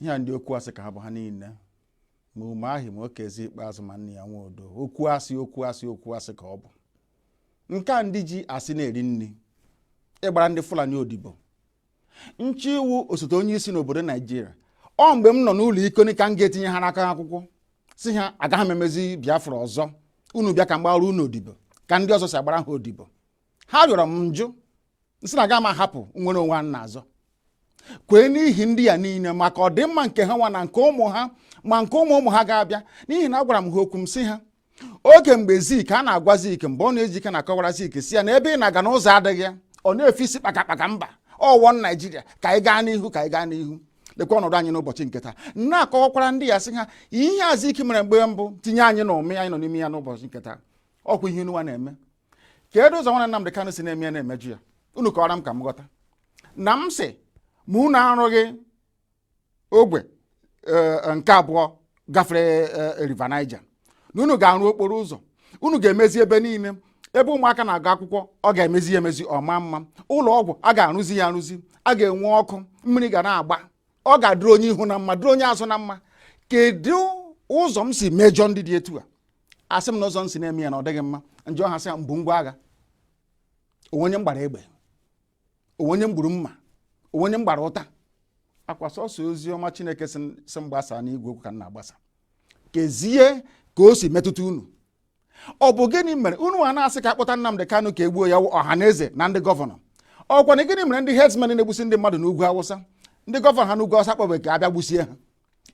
ihe a ndị okwu asị ka ha bụ ha niile ma umahi ma okezie ikpeazụ ma nnia nwodo okwu asị okwu asị okwu asị ka ọ bụ nke a ndị ji asị na-eri nri ịgbara ndị fulani odibo nche iwu osote onye isi n'obodo naijiria ọ mgbe m nọ n'ụlọ iko ka m ga-etinye ha n'aka akwụkwọ sị ha agaghị m emezi biafra ọzọ unu bịa ka m gbara unu odibo ka ndị ọzọ si agbara ha odibo ha rịọrọ m m jụ m sị na aga m ahapụ nnwere onwe a na-azọ kwee n'ihi ndị a niile maka ọdịmma nke ha nwa na nke ụmụ ha ma nke ụmụ ụmụ ha ga-abịa n'ihi na agwara m ha okwu m sị ha oge mgbe zik a na-agwa zik mbọnụ ojike na-akọwara zik sị ya na ebe ị na-aga n'ụzọ adịghị ya ọ na-efe isi kpakakpaka mba ọ one naijiria ka anyị gaa n'ihu ka anyị gaa n'ihu lekwa ọnọdụ anyị n'ụbọchị nke taa na-akọwakwara ndị a sị ha ihe zik mere mgbe mbụ tinye anyị na umi anyị nọ n'ime ya n'ụbọchị nke taa ọkwa ihe nwa na-eme kedu ụzọ nwana Nnamdị Kanụ si na-eme ya na-emejọ ya unu kọwara m ka m ghọta na m sị ma unu arụghị ogwe nke abụọ gafere e, river Niger na unu ga-arụ okporo ụzọ unu ga-emezi ebe niile ebe ụmụaka na-agụ akwụkwọ ọ ga-emezi ya emezi ọ maa mma ụlọ ọgwụ a ga-arụzi ya arụzi a ga-enwe ọkụ mmiri ga na-agba ọ ga-adịrị onye ihu na mma dịrị onye azụ na mma kedu ụzọ m si mejọ ndị dị etu a asị m na ụzọ m si na-eme ya na ọ dịghị mma m jụọ ha sị ha m bu ngwa agha o nwe onye m gbara egbe o nwe onye m gburu mma o nwe onye m gbara ụta ọkwa sọsọ ozi ọma chineke si m gbasa n'igwe okwu ka m na-agbasa kezie ka o si metụta unu ọ bụ gịnị mere unu a na-asị ka akpọta Nnamdị Kanu ka egbuo ya ọhanaeze na ndị gọvanọ ọkwa na gịnị mere ndị herdsmen na-egbusi ndị mmadụ n'ugwu awụsa ndị gọvanọ ha n'ugwu awụsa kpọbeghị ka abịa gbusie ha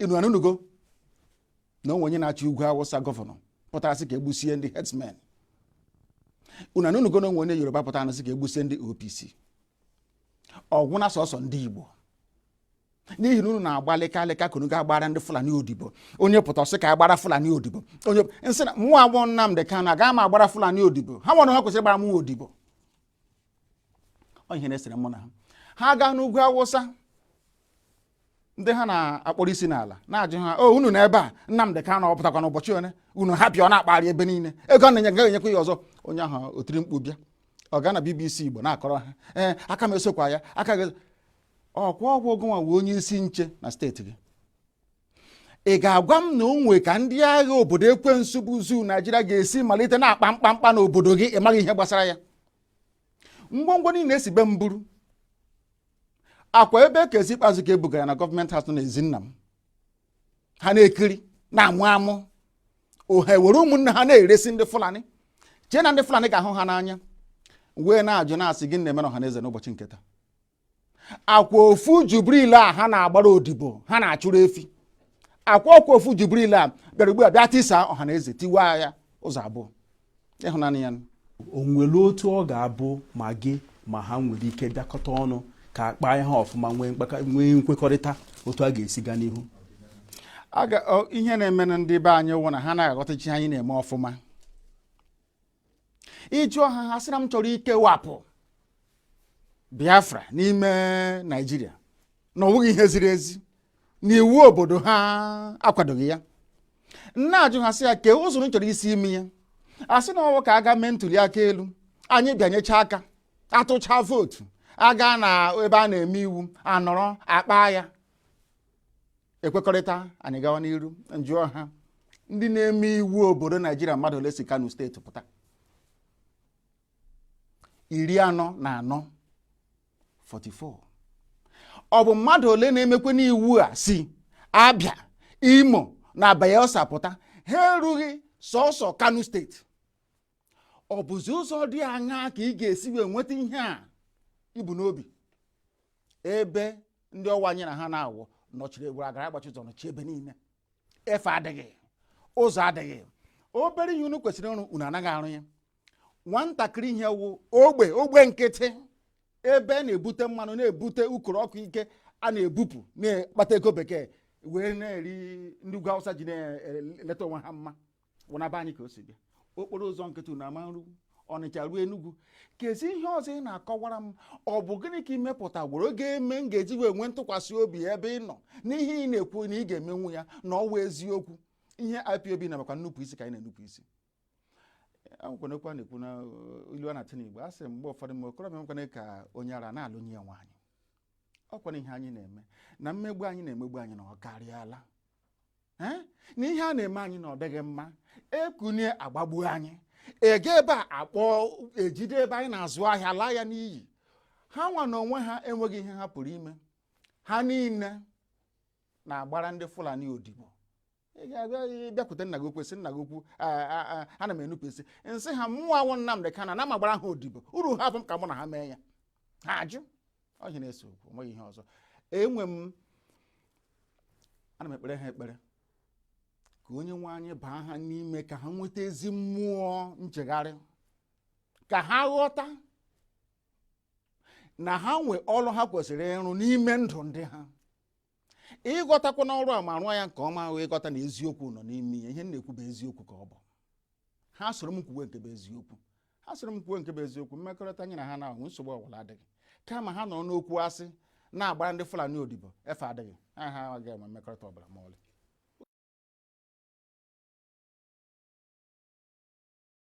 unu anụnugo na o nwe onye na-achị ugwu awụsa gọvanọ pụtara sị ka egbusie ndị herdsmen unu anụnugo na o nwe onye yoruba pụtara sị ka egbusie ndị opc ọ wụ na sọsọ ndị igbo n'ihi na unu na-agbalịka alịka ka unu ga-agbara ndị fulani odibo onye pụta ọ sị ka agbara fulani odibo onye nsị na mụwa wụ nnamdị kanụ aga m agbara fulani odibo ha nwa ha kwesịrị ịgbara mụwa odibo ọ ihe na-esere mụ na ha ha gaa n'ugwu awụsa ndị ha na-akpọrọ isi n'ala na-ajụ ha o oh, unu nọ ebe a Nnamdị Kanụ ọ pụtakwa n'ụbọchị ole unu hapụ ya ọ na-akpagharị ebe niile ego na-enye gaghị enyekwa ya ọzọ onye ahụ o tiri mkpu bịa ọ gaa na BBC Igbo na-akọrọ ha ee eh, aka m esokwa ya aka gị ọkwa ọ wụ gịnwa wụ onye isi nche na steeti gị ị ga-agwa m na o nwe ka ndị agha obodo ekwensu bụ zoo naijiria ga-esi malite na-akpa mkpamkpa n'obodo gị ị maghị ihe gbasara ya ngwongwo niile e si be m buru ọkwa ebe okezie ikpeazụ ka e bugara na gọọmenti house na ezi nna m ha na-ekiri na-amụ amụ ha ewere ụmụnna ha na-eresi ndị fulani chee na ndị fulani ga-ahụ ha n'anya wee na-ajụ na-asị gịnị na-eme ọhanaeze n'ụbọchị nke taa ọkwa ofu jubril a ha na-agbara odibo ha na-achụrụ efi akwa ọkwa ofu jubril a bịara ugbu a bịa tisa ọha na eze tiwa ya ụzọ abụọ ịhụnanya ya o nwere otu ọ ga-abụ ma gị ma ha nwere ike bịakọta ọnụ ka akpa ihe ọfụma nwee nkwekọrịta otu a ga-esi gaa n'ihu ihe na-emenụ ndị be anyị wụ na ha anaghị aghọtacha ihe anyị na-eme ọfụma ị jụọ ha ha sị na m chọrọ ikewapụ Biafra n'ime Naịjirịa na ọ wụghị ihe ziri ezi na iwu obodo ha akwadoghị ya m na-ajụ ha sị ya kee ụzọ m chọrọ isi ime ya a sị na ọ wụ ka a gaa mee ntuli aka elu anyị bịanyecha aka atụcha vootu agaa na ebe a na-eme iwu anọrọ akpa ya ekwekọrịta anyị gawa n'iru m jụọ ha ndị na-eme iwu obodo naijiria mmadụ ole si kano steeti pụta iri anọ na anọ 44 ọ bụ mmadụ ole na-emekwanụ iwu a si abịa imo na bayelsa pụta ha erughị sọsọ kano steeti ọ bụzi ụzọ dị aṅaa ka ị ga-esi wee nweta ihe a i bu n'obi ebe ndị ọ wụ anyị na ha na-awụ nọchiri egwuru agara agbachi ụzọ nọchi ebe niile efe adịghị ụzọ adịghị obere ihe unu kwesịrị ịrụ unu anaghị arụ ya nwatakịrị ihe wụ ogbe ogbe nkịtị ebe a na-ebute mmanụ na-ebute ukoro ọkụ ike a na-ebupụ na-akpata ego bekee wee na-eri ndị ugwu awụsa ji na-eleta onwe ha mma wụnaba anyị ka o si bịa okporo ụzọ nkịtị unu ama nru ọnịcha ruo enugwu kezi ihe ọzọ ị na-akọwara m ọ bụ gịnị ka i mepụtagworo ga-eme m ga-eji wee nwee ntụkwasị obi ebe ị nọ n'ihe ị na-ekwu na ị ga-emenwu ya na ọ wụ eziokwu ihe IPOB na maka nnupụ isi ka anyị na-enupụ isi akwụkwọ n'okwu a na-ekwu na uh, ilu a na-atụ n'igbo a sị mgbe ụfọdụ mgbe okorobịa nwekwana ka onye ara na-alụnye nwaanyị ọ kwana ihe anyị na-eme na mmegbu anyị na-emegbu anyị na ọ karịala na ihe a na-eme anyị na ọ dịghị mma ekunie agbagbuo anyị ege ebe a akpọ ejide ebe anyị na-azụ ahịa laa ya n'iyi ha nwa na onwe ha enweghị ihe ha pụrụ ime ha niile na-agbara ndị Fulani odibo ị ga-abịa bịakwute nna gị okwu sị nna gị okwu ana m enupụ isi m sị ha mụnwa awụ Nnamdị Kanu na m ama agbara ha odibo uru ha afọ m ka mụ na ha mee ya ha ajụ ọ ihe na-ese okwu o nweghị ihe ọzọ enwe m ana m ekpere ha ekpere ka onye nwe anyị baa ha n'ime ka ha nweta ezi mmụọ nchegharị ka ha ghọta na ha nwee ọrụ ha kwesịrị ịrụ n'ime ndụ ndị ha ịghọtakwanụ ọrụ a ma rụọ ya nke ọma ahụ ịghọta na eziokwu nọ n'ime ya ihe m na-ekwu bụ eziokwu ka ọ bụ ha soro m kwuwe nke bụ eziokwu ha soro m kwuwe nke bụ eziokwu mmekọrịta anyị na ha na-ahụ nsogbu ọbụla adịghị kama ha nọrọ n'okwu asị na-agbara ndị Fulani odibo efe adịghị ha ha agaghị enwe mmekọrịta ọbụla ma ọlị